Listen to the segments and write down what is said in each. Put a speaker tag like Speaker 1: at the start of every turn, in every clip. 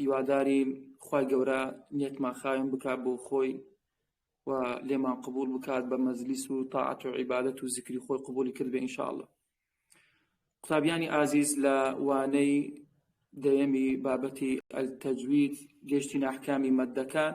Speaker 1: هیواداری خی گەورە نیەتمان خاوێن بکات بۆ خۆی و لێمان قبول بکات بە مەزلیس و تاعات و عیباەت و زیکری خۆی قبولی کرد بە ئینشاءله قوتابیانی ئازیز لە وانەی دەیەمی بابەتی ئەلتەجوید گەشتی ناحکامی مەدەکان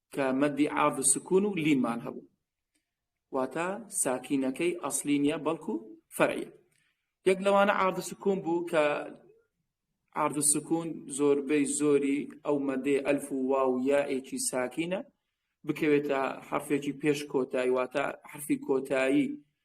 Speaker 1: کە مەدی عارد و سکون و لینمان هەبوو واتە ساکینەکەی ئەسلی نیە بەڵکو فەرعە یەک لەوانە عارد و سکون بوو کە عارد و سکون زۆربەی زۆری ئەو مەدێ ئەلف و وا و یائێکی ساکینە بکەوێتە حرفێکی پێش کۆتایی واتە حرفی کۆتایی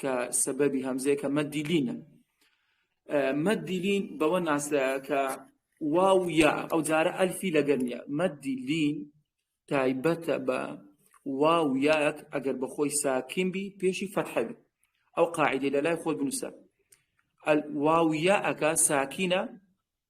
Speaker 1: کە سەبەبی هەمزەیەکە مەدیلینە مەدیلین بەوە ناسراکە واو یا ئەو جارە ئەلفی لەگەر نیە مەدیلین تایبەتە بە واو یاک ئەگەر بەخۆی ساکین بی پێشی فەرحەبی ئەو قاعدی لە لای خۆت بنووسە واو یاەکە ساکینە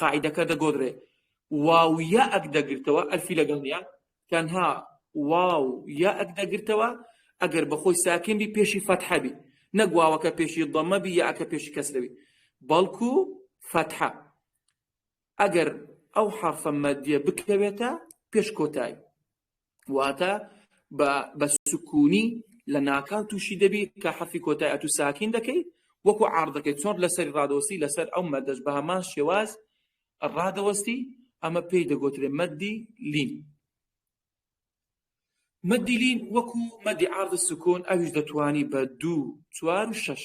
Speaker 1: قاعیدەکە دەگۆدرێ واو یا ئەک دەگرتەوە ئەلفی لەگەڵ نیە تەنها واو یا ئەک دەگرتەوە ئەگەر بەخۆی ساکن بی پێشی فەتحەبی نەگواوەکە پێشی دەمەبی یا ئەکە پێشی کەسرەوی بەڵکو فەتحە ئەگەر ئەو حرفە مەدیە بکەوێتە پێش کۆتایی واتە بە سکوونی لە ناکاو تووشی دەبی کە حەفی کۆتای ئەتو ساکین دەکەی وەکو عردەکەی چۆن لەسەری ڕادۆستی لەسەر ئەو مەدەش بە هەمان شێواز ڕادەوەستی ئەمە پێی دەگوترێ مەدی لین مەدیلین وەکو مەدی عرض سکۆن ئەویش دەتوانی بە دوو چوار و شەش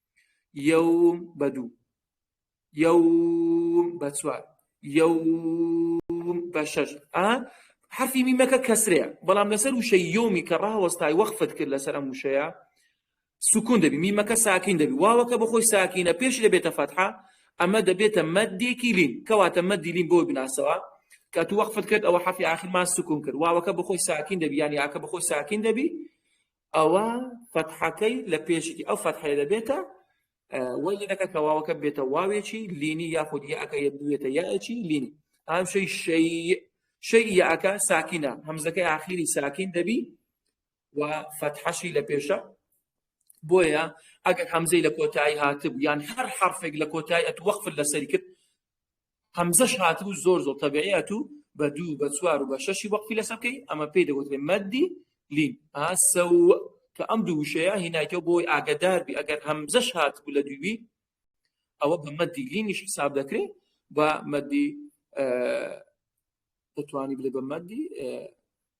Speaker 1: یەوم بە دوو یەوم بە چوار یەوم بە شەش ئا حرفی میمەکە کەسرەیە بەڵام لەسەر وشە یۆمی کە ڕاوەستای وەخفت کرد لەسەر ئەم وشەیە سکون دەبی میمەکە ساکین دەبی واوەکە بەخۆی ساکینە پێش دەبێتە فەتحا ئەمە دەبێتە مەدێکی لین کەواتە مەدی لین بۆ بناسەوە کە تو وەخفت کرد ئەوە حەفی آخرمان سکون کرد واوەکە بەخۆی ساکین دەبی یانی ئاکە بەخۆی ساکین دەبی ئەوە فەتحەکەی لە پێشی ئەو فەتحەیە دەبێتە وەی لەکە کەواوەکە بێتە واوێکی لینی یاخود یەکە بێتە یاەکی لین ئەم شەی شەی شەی یەکە ساکینە هەمزەکەی ئاخیری ساکین دەبی و فەتحەشی لە پێشە بۆیە ئەگەر هەمزەی لە کۆتایی هاتب یان هەر حرفێک لە کۆتایی ئەت وەخفل لەسەری کرد هەمزەش هاتبوو زۆر زۆر تەبعەت و بە دوو بە چوار و بە شەشی وەقفی لەسەر بکەی ئەمە پێی دەگوترێ مەدی لین ئاسە و کە ئەم دوو وشەیە هینایتەوە بۆی ئاگدار بی ئەگەر هەمزەش هات بوو لە دووی ئەوە بە مەدی لینیش حساب دەکرێت بە مەدی دەتوانی بلێ بە مەدی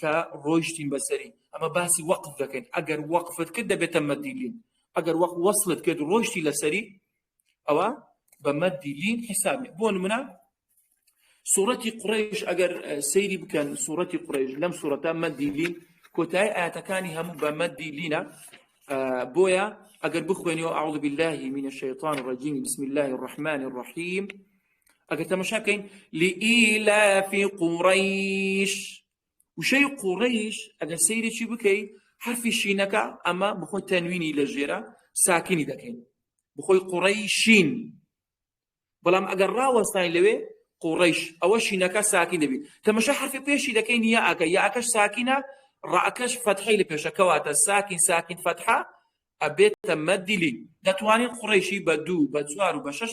Speaker 1: کە ڕۆیشتین بەسەری ئەمە باسی وەقف دەکەین ئەگەر وەقفت کرد دەبێتە مەدیلین ئەگەر وەق وەصلت کرد ڕۆیشتی لەسەری ئەوە بە مەدیلین حسابێ بۆ منە سوورەتی قڕێش ئەگەر سەیری بکەن سوورەتی قڕێش لەم سوورەتە مەدیلین کۆتای ئاەتەکانی هەموو بە مەدیلینە بۆیە ئەگەر بخوێنەوە ئاڵ باللهی منە شەیطان ڕجیم بسم الله الرحمن الرحیم ئەگەر تەمەشا بکەین لئیلافی قوڕیش وشەی قوڕیش ئەگەر سەیرێکی بکەی حرفی شینەکە ئەمە بخۆی تەنوینی لە ژێرە ساکینی دەکەین بخۆی قوڕی شین بەڵام ئەگەر ڕاوەستانی لەوێ قوڕیش ئەوە شینەکە ساکین دەبیت تەمەشا حرفی پێشی دەکەین یا ئەکە یا ئەکەش ساکینە ڕاکەش فەتحی لە پێشەکەواتە ساکین ساکین فەتحە ئەبێتە مەدیلی دەتوانین قڕیشی بە دوو بە چوار و بە شش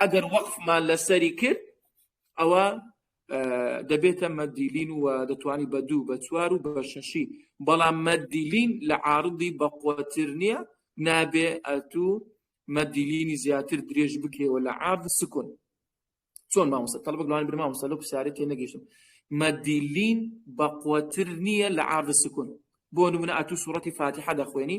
Speaker 1: ئەگەر وەقفمان لەسەری کرد ئەوە دەبێتە مەدیلین و دەتوانی بە دوو بە چوار و بە شەشی بەڵام مەدیلین لە عاردی بەقوتر نییە نابێ ئەتو مەدیلینی زیاتر درێژ بکرێەوە لە عرض سکون چۆن مامۆستا تەڵبک لەوان برما مامۆستا لەو پرسیارە تێ نەگەیشتم مەدیلین بەقوتر نییە لە عرض سکون بۆ نمونە ئەتو سوڕەتی فاتیحە دەخوێنی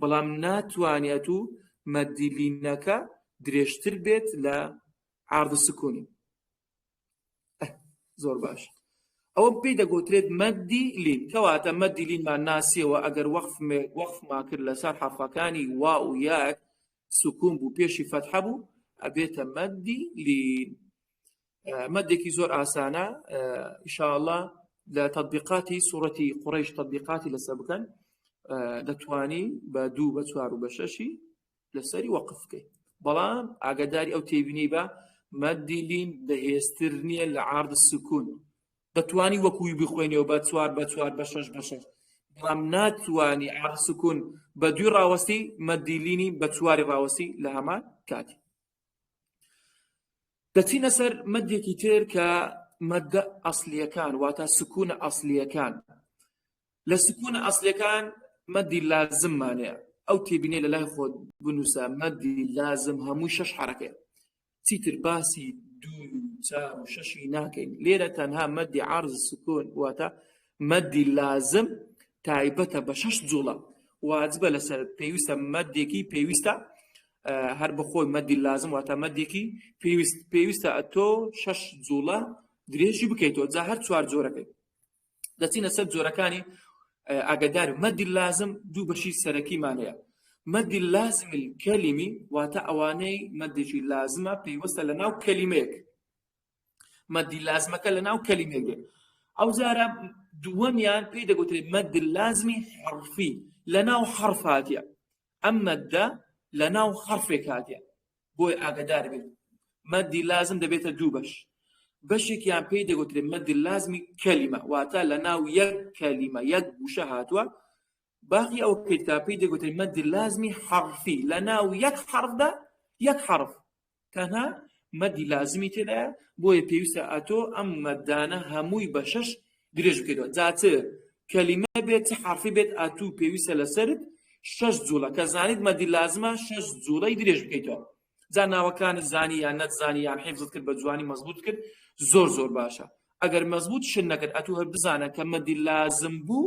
Speaker 1: بەڵام ناتوانێت و مەدی لینەکە درێژتر بێت لە عرض سکونی زۆر باش ئەوە پێی دەگوترێت مەدی لین کەواتە مەدی لینمان ناسیەوە ئەگەر وەخف وەخفما کرد لەسەر حرفەکانی وا و یاک سکوم بوو پێشی فەتحە بوو ئەبێتە مەدی لین مەدێکی زۆر ئاسانە ئیشاءله لە تطبیقاتی سوورەتی قڕیش تطبیقاتی لەسەر بکەن دەتوانی بە دوو بە چوار و بە شەشی لەسەری وەقفکەی بەڵام ئاگاداری ئەو تێبینی بە مەدیلین بەهێزتر نییە لە عرض سکون دەتوانی وەکوی بخوێنەوە بە چوار بە چوار بە شش بە شش بەڵام ناتوانانی عرض سکون بە دوی ڕاوەستی مەدیلینی بە چواری ڕاوەسی لە هەمان کاتی دەچینە سەر مەدێکی تر کە مەدە ئەسلیەکان واتە سکوونە ئەسلیەکان لە سکوونە ئەسلەکان مەدی لازممانەیە ئەو تێبینێ لە لای خۆت بنووسە مەدی لازم هەمووی شەش حرەکەیە چیتر باسی دوو چار و شەشی ناکەین لێرە تەنها مەدی عرض سکون واتە مەدی لازم تایبەتە بە شەش جوڵە واجبە لەسەر پێویستە مەدێکی پێویستە هەر بەخۆی مەدی لازم واتە مەدێکی پێویست پێویستە ئەتۆ شەش جوڵە درێژی بکەیتەوە جا هەر چوار جۆرەکەی دەچینە سەر جۆرەکانی ئاگدار مەدی لازم دوو بەشی سەرەکیمانەیە مەدی لازمی کەلیمی واتە ئەوانەی مەدێکی لازمە پێیوەستە لە ناو کەلیمەیەک مەد لازمەکە لە ناو کەلیمەی دێ ئەو جارە دووەمیان پێی دەگوترێت مەد لازمی حرفی لە ناو حرف هاتیە ئەم مەدە لە ناو حرفێک هاتیە بۆی ئاگدار بێت مەدی لازم دەبێتە دوو بەش بەشێکیان پێی دەگوترێت مەدی لازمی کەلیمە واتە لە ناو یەک کەلیمە یەک گوشە هاتووە باقی ئەو کتابی دەگوترێت مەدی لازمی حرفی لە ناو یەک حرفدا یەک حرف تەنها مەدی لازمی تێدایە بۆیە پێویستە ئەتۆ ئەم مەدانە هەمووی بە شەش درێژ بکەیتەوە جا چ کەلیمە بێت چ حەرفی بێت ئەتوو پێویستە لەسەرت شەش جوڵە کە زانیت مەدی لازمە شەش جوڵەی درێژ بکەیتەوە جا ناوەکانت زانی یان نەتزانی یان حیفزت کرد بە جوانی مەزبوط کرد زۆر زۆر باشە ئەگەر مەزبوط شت نەکرد ئەتوو هەر بزانە کە مەدی لازم بوو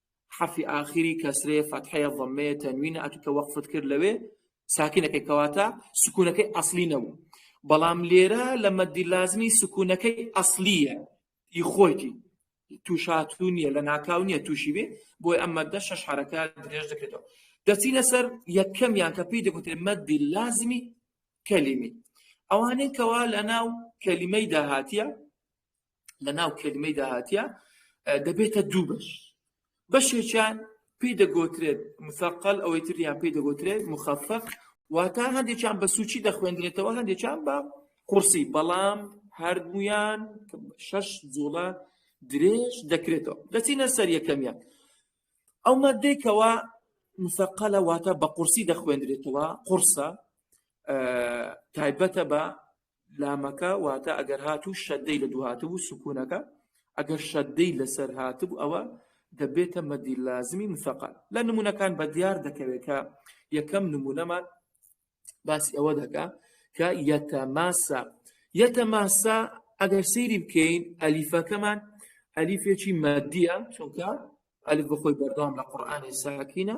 Speaker 1: حەرفی ئاخری کەسرەیە فەتحەیە ضەممەیە تەنوینە ئەتو کە وەقفت کرد لەوێ ساکینەکەی کەواتە سکونەکەی ئەسلی نەبوو بەڵام لێرە لە مەدی لازمی سکونەکەی ئەسلیە ی خۆیتی تووشاتو نییە لە ناکاو نییە تووشی بێ بۆی ئەم مەدە شەش حرەکە درێژ دەکرێتەوە دەچینە سەر یەکەمیان کە پێی دەگوتێ مەدی لازمی کەلیمی ئەوانەی کەوا لە ناو کەلیمەی داهاتە لە ناو کلمەی داهاتە دەبێتە دوو بەش بەشێکیان پێی دەگۆترێت مسەقل ئەوەی تریان پێی دەگۆترێت مخەفق واتە هەندێکیان بە سوچی دەخوێندرێتەوە هەندێکیان بە قورسی بەڵام هەردمویان شەش جوڵە درێژ دەکرێتەوە دەچینە سەر یەکەمیان ئەو مادێکەوە مسەقلە واتە بە قورسی دەخوێندرێتەوە قورسە تایبەتە بە لامەکە واتە ئەگەر هاتوو شەدەی لە دوو هاتبوو سکوونەکە ئەگەر شەدەی لەسەر هاتبوو ئەوە دەبێتە مەدی لازمی مسەقال لە نمونونەکان بە دیار دەکەوێت کە یەکەم نمونەمان باسی ئەوە دەکا کە یەتەماسا یەتەماسا ئەگەر سەیری بکەین ئەلیفەکەمان ئەلیفێکی مەدیە چونکە ئەلف بەخۆی بەردەوام لە قورآانی ساکینە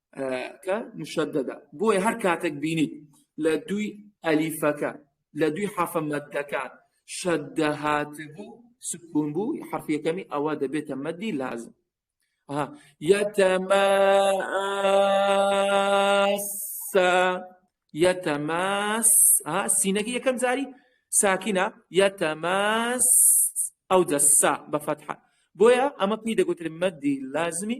Speaker 1: کە مشددە بۆیە هەر کاتێک بینیت لە دوی ئەلیفەکە لە دوی حەفە مەدەکان شەدە هاتبوو سکون بوو حەفیەکەمی ئەوە دەبێتە مەدی لازم یەتەماسا یەتەماس سینەکە یەکەم جاری ساکینە یەتەماس ئەو دەسا بە فەتحە بۆیە ئەمە پێی دەگوترێت مەدی لازمی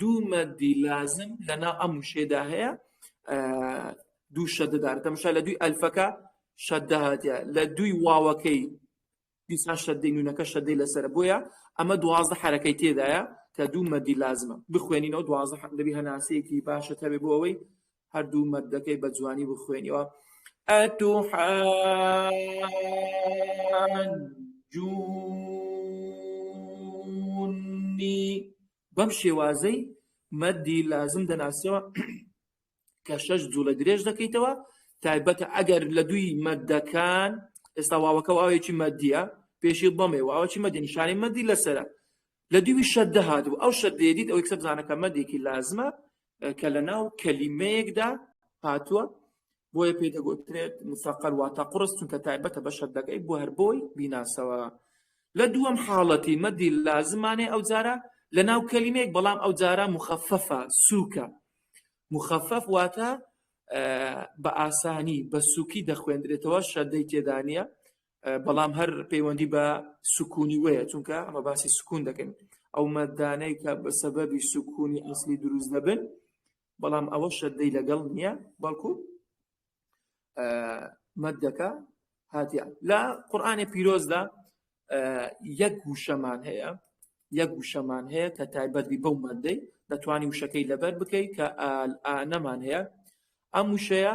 Speaker 1: دوو مەدی لازم لەنا ئەم وشێدا هەیە دوو شەدەدار تەمشا لە دوی ئەلفەکە شەدەهاتە لە دوی واوەکەی دیسان شەدەی نونەکە شەدەی لەسەر بۆیە ئەمە دوازدە حرەکەی تێدایە کە دوو مەدی لازمە بخوێنینەوە دوازدە حەمدەبی هەناسەیەکی باشە تەبێ بۆ ئەوەی هەردوو مەدەکەی بە جوانی بخوێنیەوە ئەتوحجونی بەم شێوازەی مەدی لازم دەناسیەوە کە شەش جوڵە درێژ دەکەیتەوە تایبەتە ئەگەر لە دوی مەدەکان ئێستا واوەکە واوێکی مەدیە پێشی بەمێ واوەکی مەدی نیشانی مەدی لەسرە لە دووی شەدە هاتبوو ئەو شەدێدیت ئەوەی کە بزانەکە مەدێکی لازمە کە لە ناو کەلیمەیەکدا هاتووە بۆیە پێ دەگوترێت مسەقەر واتە قڕست چونکە تایبەتە بە شەدەکەی بۆ هەر بۆی بیناسەوە لە دووەم حاڵەتی مەدی لازمانێ ئەو جارە لە ناو کەلیمێک بەڵام ئەو جارە مخەفەفە سووکە مخەفەف واتە بە ئاسانی بە سووکی دەخوێندرێتەوە شەدەی تێدانە بەڵام هەر پەیوەندی بە سکوونی وەیە چونکە ئەمە باسی سکوون دەکەین ئەو مەدانەی کە بە سەبەبی سکوونی ئەسلی دروست دەبن بەڵام ئەوە شەدەی لەگەڵ نییە بەڵکو مەدەکە هاتیە لە قورآانی پیرۆزدا یەک وشەمان هەیە یەک وشەمان هەیە کە تایبەتی بەو مادەی دەتوانانی وشەکەی لەبەر بکەیت کە ئانەمان هەیە ئەم وشەیە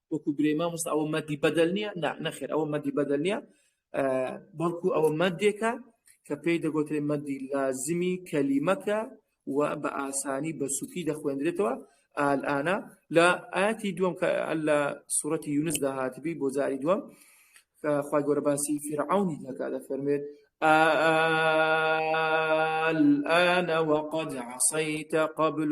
Speaker 1: وەکو برێ مامۆستا ئەوە مەدی بەدەل نییە نەخێر ئەوە مەدی بەدەل نیە بەڵکو ئەوە مەدێکە کە پێی دەگوترێ مەدی لازمی کەلیمەکە و بە ئاسانی بە سوکی دەخوێندرێتەوە ئالانە لە ئاتی دووەم کە لە سوەتی یونس داهاتبی بۆ جاری دووەم خخوای گەورە باسی فیرعونی دەکا دەفەرمێت الآن وقد عصيت قبل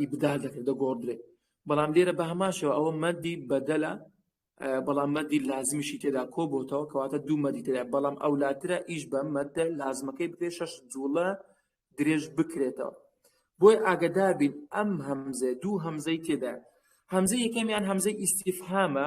Speaker 1: ئیبدال دەکرێت دەگۆڕدرێت بەڵام لێرە بە هەماشەوە ئەوە مەدی بەدەلە بەڵام مەدی لازمیشی تێدا کۆ بۆتەوە کەواتە دوو مەدی تێدا بەڵام ئەو لاترە ئیش بە مەدە لازمەکەی بکرێت شەش جوڵە درێژ بکرێتەوە بۆی ئاگدابین ئەم هەمزە دوو هەمزەی تێدا هەمزە یەکەمیان هەمزەی ئیسیفهامە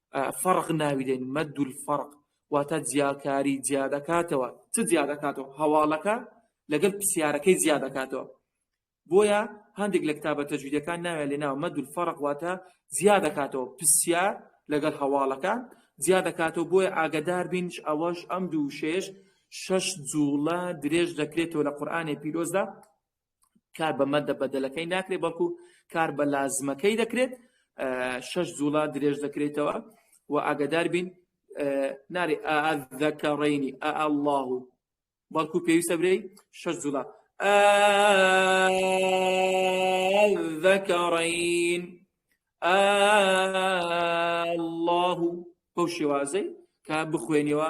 Speaker 1: فەرق ناوی دەین، مەد الفرق، واتە جیاکاری جیا دەکاتەوە، چ جیا دەکاتەوە؟ هەواڵەکە لەگەل پرسیارەکەی جیا دەکاتەوە. بۆیە هەندێک لە کتابە تەجویدەکان ناویان لێناوە مەد الفرق واتە جیا دەکاتەوە پرسیار لەگەل هەواڵەکە جیا دەکاتەوە بۆیە ئاگدار بینش ئەوەش ئەم دوو شێش شەش جوڵە درێژ دەکرێتەوە لە قورآانی پیرۆزدا کار بە مەدە بەدەلەکەی ناکرێت بەڵکو کار بە لازمەکەی دەکرێت شش جوڵا درێژ دەکرێتەوە و ئاگدار بین ناری ئەذەکەڕینی ئە الله و بەڵکو پێویستە برێی شش جوڵا ذەکەڕین الله بەو شێوازەی کە بخوێنەوە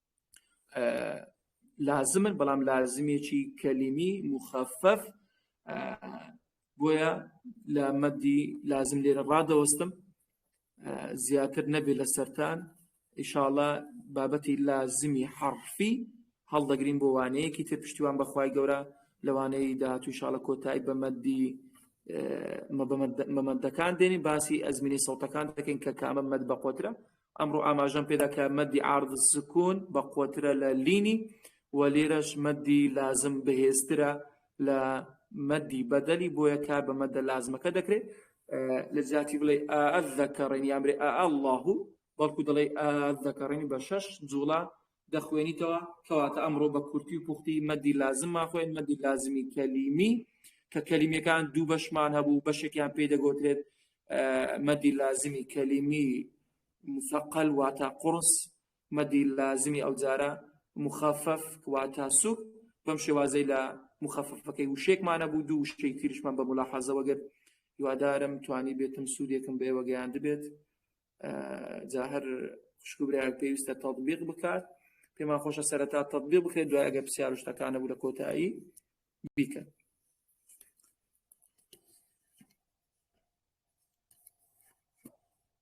Speaker 1: لازمن بەڵام لازمێکی کەلیمی مخەفەف بۆیە لە مەدی لازم لێرە ڕادەوەستم زیاتر نەبێت لە سەران ئیشاڵە بابەتی لازمی حرفی هەڵدەگرین بۆ وانەیەکی تر پشتیوان بەخوای گەورە لەوانەی داهاتوو شاڵە کۆتایی بە مەدی مەمەندەکان دێنین باسی ئەزمینی سەڵتەکان دەکەین کە کامە مەد بەقۆترە ئەمڕۆ ئاماژەم پێدا کە مەدی عارض سکون بەقوەترە لە لینی و لێرەش مەدی لازم بەهێزترە لە مەدی بەدەلی بۆیە کار بە مەدە لازمەکە دەکرێت لە جیاتی بڵێ ئەذەکەڕێن یامرێ ئە اللهو بەڵکو دەڵێ ئەذەکەڕێنی بە شەش جوڵە دەخوێنیتەوە کەواتە ئەمڕۆ بە کورتی و پوختی مەدی لازممان خوێن مەدی لازمی کەلیمی کە کەلیمەکان دوو بەشمان هەبوو بەشێکیان پێی دەگوترێت مەدی لازمی کەلیمی مسەقل واتا قرس مەدی لازمی ئەو جارە مخفف واتا سوک بەم شێوازەی لە مخففەکەی وشێکمانە بوو دوو شتێک تریشمان بە ملاحەزەوەگەر هیوادارم توانی بێتم سوودێکم بێوەگەیان دەبێت جا هەر خوشک و برایان پێویستە تەطبیق بکات پێمان خۆشە سەرەتا تەطبیق بکرێت دوای ئەگە پرسیار و شتەکانە بوو لە کۆتایی بیکەن